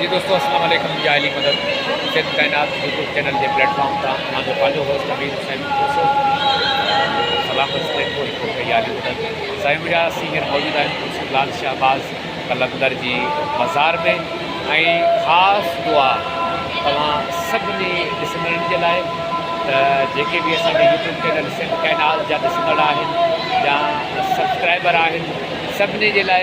جي دوستو السلام عليڪم يا علي مدد سنڌ ڪائنات يوٽيوب چينل جي پليٽ فارم تان مان جو پنهنجو هوسٽ امير حسين کوسو سلام بس ٽرين ڪو هڪ هوسٽ يا علي مدد سائين ميرا سي هيئر موجود آهن خصوص لال شهباز قلندر جي مزار ۾ ۽ خاص دعا توهان سڀني ڏسندڙن جي لاء ته جيڪي به اسان جي يوٽيوب چينل سنڌ ڪائنات جا ڏسندڙ آهن يا سبسڪرائبر آهن سڀني جي لاء